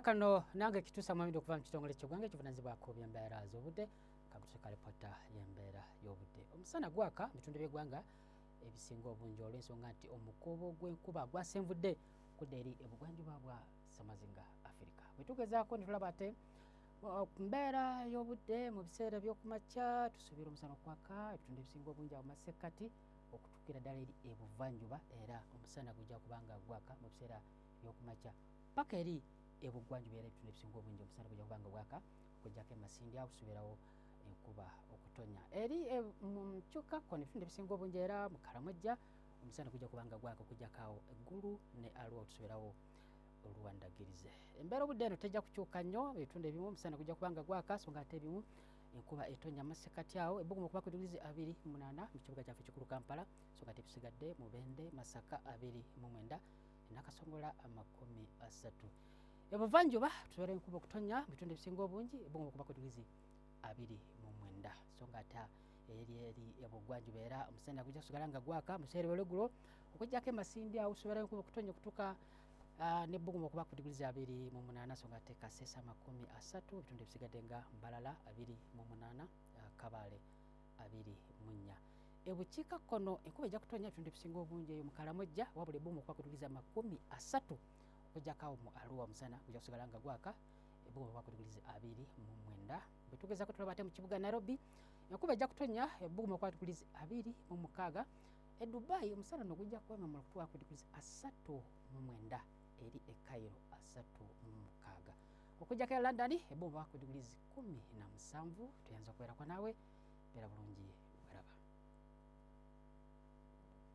kano nange kitusa mwami okuva mu kitongole kyegwanga ekivunanyizibwako byembeera z'obudde kakutuka lipota y'embeera y'obudde omusana gwaka mu bitundu by'eggwanga ebisinga obungi olw'ensonga nti omukuubo gw'enkuba gwasenvudde okudda eri ebugwanjuba bwa samazinga afirika bwe tugezaako ne tulaba ate mbeera y'obudde mu biseera by'okumakya tusuubira omusana okwaka ebitundu ebisinga obungi awo masekkati okutuukira ddala eri ebuvanjuba era omusana gujja kubanga gwaka mu biseera by'okumakya paka eri ebugwanjuba era ebitundu ebisinga obungi omusana bujja kuba nga bwaka okujjako emasindi awo kusubirawo enkuba okutonya eri e, mukyuka kono ebitundu ebisinga obungi era mukalamojja omusana gujja kuba nga gwaka okujjako awo eggulu ne alwa otusubirawo oluwandagirize embeera obudde eno tejja kukyuka nnyo ebitundu ebimu omusana gujja kuba nga gwaka so nga ate ebimu enkuba etonya masekati awo ebbugumu okuba ku digirizi abiri munaana mu kibuga kyaffe kikulu kampala so nga tebisigadde mubende masaka abiri mu mwenda nakasongola amakumi asatu ebuvanjuba tubeera enkuba okutonya mu bitundu ebisinga obungi ebunga okuba ku digizi abiri mu mwenda so nga ate eri eri ebugwanjuba era omusana gujja kusigala nga gwaka museere welegulo okujjako emasindi awo tubeera enkuba okutonya okutuka Ah, nebbugumu okuba ku diguli zabiri mu munaana so nga tekasesa makumi asatu ebitundu ebisigadde nga mbalala abiri mu munaana ah, kabaale abiri mu nnya ebukiikakkono enkuba ejja kutonnya ebitundu ebisinga obungi eyo mu kalamojja wabula ebumu okuba kutuliza amakumi asatu okujjakawo mu aluwa omusana gujja kusigala nga gwaka ebumu okuba kutuliza abiri mu mwenda bwe tugeza ku tulaba ate mu kibuga nairobi enkuba ejja kutonnya ebumu okuba kutuliza abiri mu mukaaga e dubai omusana no gujja kuwemamula okutuwa ku diguli asatu mu mwenda eri e kairo asatu mu mukaaga okujjako e london eba oba ku diguli zi kumi na musanvu tuyinza okubeerako naawe beera bulungi weraba